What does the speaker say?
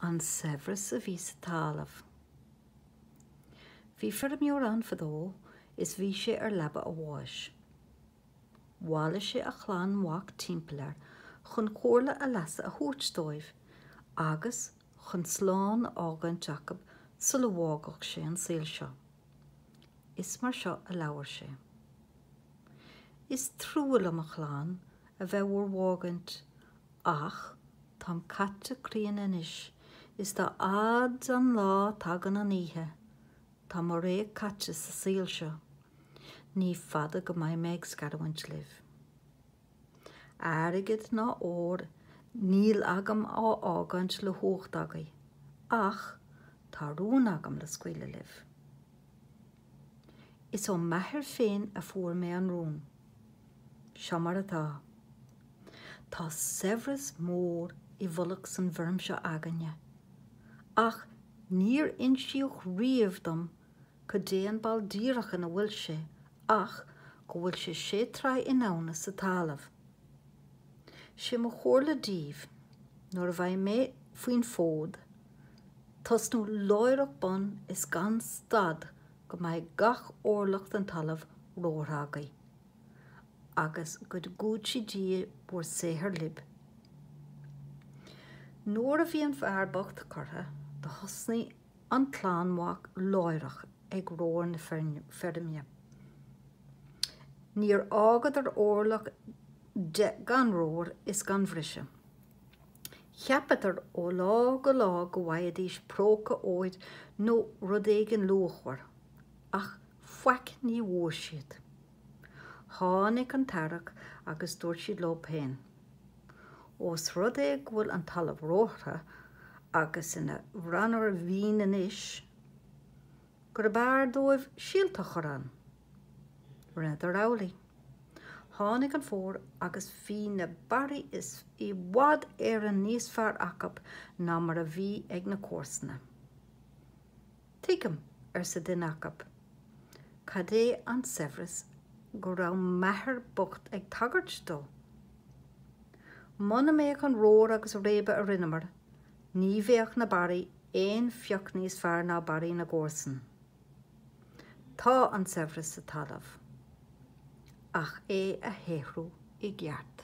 An saibhreas a bhí sa talamh. Bhí feirmeoir ann fadó is bhí sé ar leaba a bháis. Bhailigh sé a chlann mhac timpeall air chun comhairle a leasa a thabhairt dóibh agus chun slán a fhágaint acub sula bhfágfadh sé an saol seo. Is mar seo a labhair sé. Is trua liom a chlann a bheith do bhur bhfágaint Ach táim caite críon anois is dá fhaid an lá tagann an oíche. Tá mo ré caite sa saol seo. Ní fada go mbeidh mé ag scarúint libh. Airgead ná ór níl agam á fhágaint le huacht agaibh ach tá rún agam le scaoileadh libh. Is ón m'athair féin a fuair mé an rún. Seo mar atá. Tá saibhreas mór i bhfolach san bhfeirm seo againne, ach níor insíodh riamh dom goidé an ball díreach ina bhfuil sé ach go bhfuil sé sé troigh insa talamh. Sé mo chomhairle daoibh, nuair a bheidh mé faoin fód, tosnú láithreach bonn is gan stad go mbeidh gach orlach den talamh rómhartha agaibh, agus go gcúití Dia bhur saothar libh. Nuair a bhí an fear bocht curtha, do thosnaigh an clann mhac láithreach ag rómhar na feirme. Níor fhágadar órlach de gan rómhar is gan bhriseadh. Cheapadar ó lá go lá go bhfaighidís próca óir nó rud éigin luachmhar, ach faic ní bhfuair siad. Tháinig an t-earrach agus dúirt siad leo péin, Ós rud é go bhfuil an talamh rómhartha agus ina bhranar mhín anois, gurb fhearr dóibh síolta a chur ann. Rinneadar amhlaidh. Tháinig an fómhar agus bhí na barraí i bhfad Éireann níos fearr acub ná mar a bhí ag na comharsana. Tuigim, arsa duine acub, cad é an saibhreas go raibh m'athair bocht ag tagairt dó. Muna mbeadh an rómhar agus réabadh a rinneamar, ní bheadh na barraí aon phioc níos fearr ná barraí na gcomharsan. Tá an saibhreas sa talamh ach é a shaothrú i gceart.